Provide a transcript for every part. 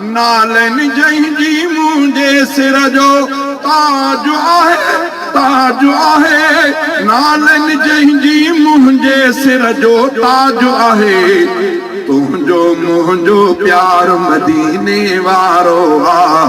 نالين جنهن جي منهنجي سر جو تاج آهي تاج آهي نالين جنهن جي منهنجي سر جو تاج آهي تنهنجو منهنجو پيار مديني وارو آ.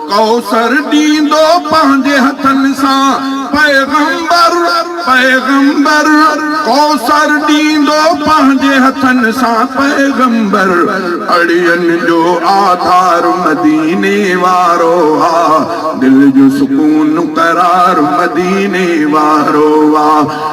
ڪوثر ڏيندو پنهنجي هٿن سان پيغمبر پيغمبر ڪوثر ڏيندو پنهنجي هٿن سان پيغمبر اڙين جو آڌار مديني وارو آ دل جو سڪون قرار مديني وارو آ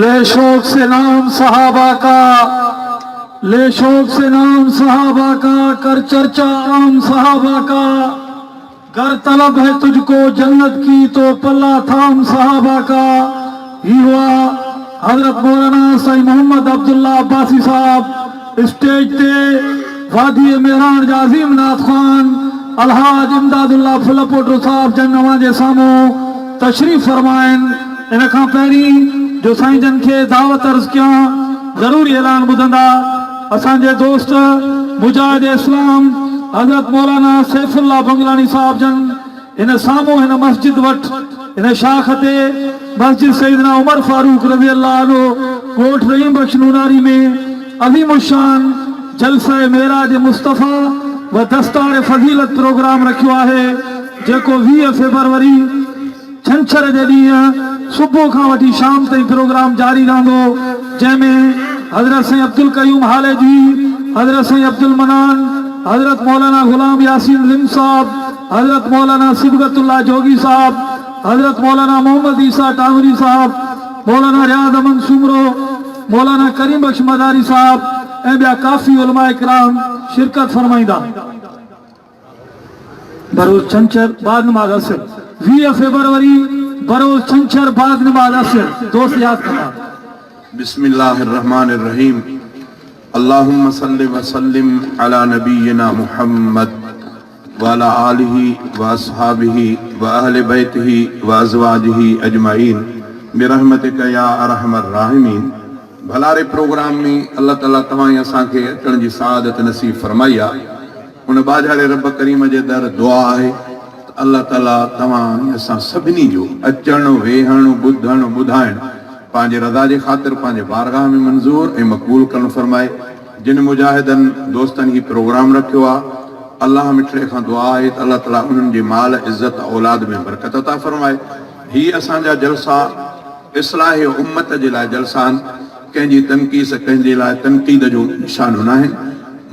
لي شوق سي نام صحابه کا لي شوق سي نام صحابه کا ڪر چرچا عام صحابه کا گر طلب هي تجھ ڪو جنت ڪي تو پلا ٿام صحابه کا هي هئا حضرت مولانا سائين محمد عبدالله عباسي صاحب اسٽيج تي واديء مهراڻ جا عظيم نعت خوان الحاج امداد الله ڦل پوٽو صاحب جن اوهان جي سامهون تشريف فرما آهن. ان کان پهرين جو سائين جن کي دعوت عرض ڪيان ضروري اعلان ٻڌندا اسان جي دوست مجاهد اسلام حضرت مولانا سيف الله بنگلاڻي صاحب جن هن سامهون هن مسجد وٽ هن شاخ تي مسجد سيدنا عمر فاروق رضي الله عنه ڳوٺ رحيم بخش نوناري ۾ عظيم الشان جلسه معراج مصطفيٰ و دستار فضيلت پروگرام رکيو آهي جيڪو ويهه فيبروري ڇنڇر جي ڏينهن صبح کان وٺي شام تائين پروگرام جاري رهندو جنهن ۾ حضرت سائين عبدالقيوم هاليجوي حضرت سائين عبدالمنان حضرت مولانا غلام ياسين رند صاحب حضرت مولانا صبغت الله جوڳي صاحب، حضرت مولانا محمد عيسيٰ ٽانوري صاحب، مولانا رياض احمد سومرو، مولانا ڪريم بخش مزاري صاحب ۽ ٻيا ڪافي علماء ڪرام شرڪت فرمائيندا. بروز ڇنڇر بعد نماز عصر، ويهه فيبروري، بروز ڇنڇر بعد نماز عصر، دوست ياد ڪندا. بسم الله الرحمن الرحيم اللهم صل وسلم علي نبينا محمد. وعلي آله واصحابه واهل بيته وازواجه اجمعين برحمتک يا ارحم الراحمين ڀلاري پروگرام ۾ الله تعالي توهان ۽ اسان کي اچڻ جي سعادت نصيب فرمائي آ ان ٻاجهاري رب ڪريم جي در دعا آهي ته الله تعالي توهان ۽ اسان سڀني جو اچڻ ويهڻ ٻڌڻ ٻڌائڻ پنهنجي رضا جي خاطر پنهنجي بارگاهه ۾ منظور ۽ مقبول ڪرڻ فرمائي جن مجاهدن دوستن هي پروگرام رکيو آ الله مٺڙي کان دعا آهي ته الله تعالي انهن جي مال عزت اولاد ۾ برڪت عطا فرمائي هي اسان جا جلسا اصلاح امت جي لاء جلسا آهن ڪنهن جي تنقيص ڪنهن جي لاء تنقيد جو نشانو ناهن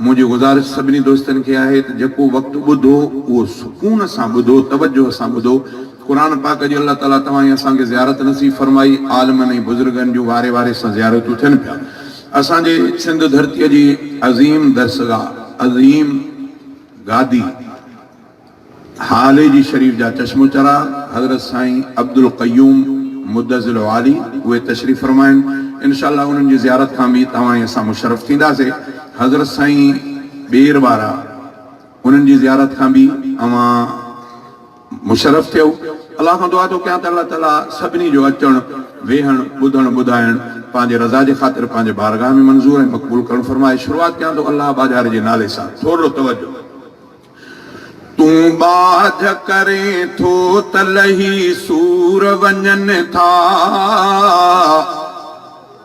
منهنجي گذارش سڀني دوستن کي آهي ته جيڪو وقت ٻڌو اهو سڪون سان ٻڌو توجهه سان ٻڌو قرآن پاڪ جي الله تعالي توهان ۽ اسان کي زيارت نصيب فرمائي عالمن ۽ بزرگن جون واري واري سان زيارتون ٿين پيا. اسان جي سنڌ ڌرتيء جي عظيم درسگاهه، عظيم گادي هاليجي شريف جا چشمو چراغ حضرت سائين عبدالقيوم مدظل عالي اهي تشريف فرما آهن. انشاء الله انهن جي زيارت کان به توهان ۽ اسان مشرف ٿينداسين. حضرت سائين ٻير وارا انهن جي زيارت کان به اوهان. مشرف ٿيو الله کان دعا ٿو ڪيان ته الله تعالي سڀني جو اچڻ ويهڻ ٻڌڻ ٻڌائڻ پنهنجي رضا جي خاطر پنهنجي بارگاهه ۾ منظور ۽ مقبول ڪرڻ فرمائي شروعات ڪيان ٿو الله ٻاجهاري جي نالي سان ٿورڙو توجه تون ٻاجهه ڪرين ٿو ته لهي سور وڃن ٿا.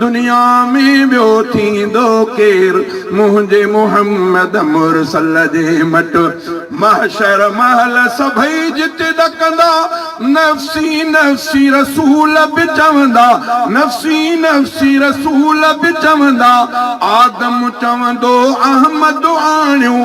دنيا ۾ ٻيو ٿيندو ڪير منهنجي محمد مرسل جي مٽ محشر مهل سڀئي جتي ڏڪندا نفسي نفسي رسول به چوندا نفسي نفسي رسول به چوندا آدم چوندو احمد آڻيو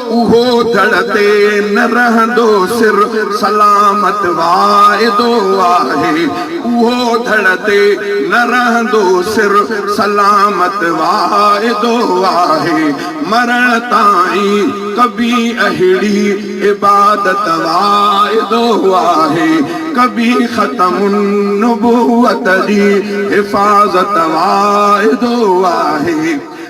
اهو ڌڙ تي نه رهندو سر سلامت واعدو آهي اهو ڌڙ تي نه رهندو سر سلامت واعدو آهي مرڻ تائين ڪبي اهڙي عبادت واعدو آهي ڪبي ختم النبوت جي حفاظت واعدو آهي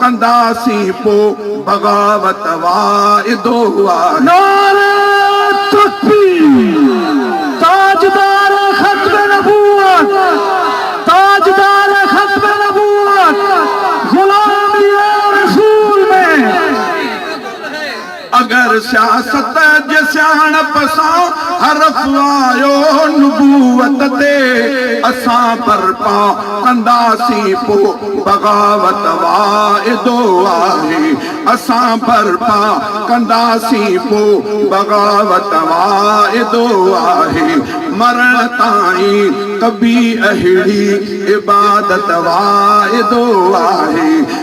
ڪنداسين پو بغاوت واعدو آهي. نعري تڪبير تاجدار ختم نبوت تاجدار ختم نبوت غلام ديار رسول ۾. اگر سياست جي سياڻپ سان حرف آيو نبوت تي اسان برپا ڪنداسين پو بغاوت واعدو آهي اسان برپا ڪنداسين پو بغاوت واعدو آهي مرڻ تائين ڪبي اهڙي عبادت واعدو آهي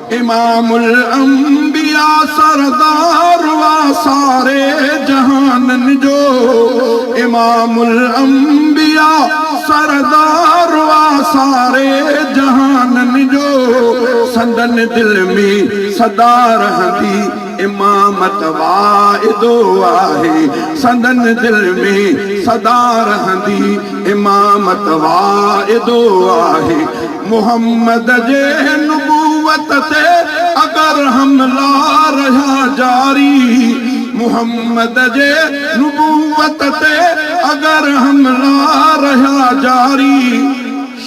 امام الانبياء سردار وا ساري جهانن جو امام الانبياء سردار وا ساري جهانن جو سندن دل ۾ سدا رهندي امامت واعدو آهي سندن دل ۾ سدا رهندي امامت واعدو آهي محمد جي نبوت تي اگر حملا رهيا جاري محمد جي نبوت تي اگر حملا رهيا جاري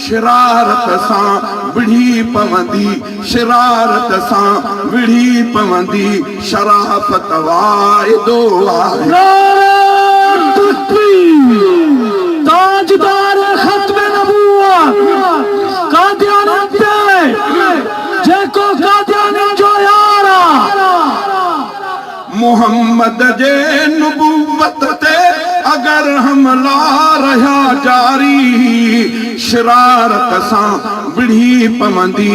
شرارت سان وڙهي پوندي شرارت سان وڙهي پوندي. شرافت واعدو آهي. نعره تڪبير تاجدار ختم نبوت قاديانين تي جيڪو قاديانين جو يار آ. محمد جي نبوت تي اگر حملا رهيا جاري شرارت سان وڙهي پوندي.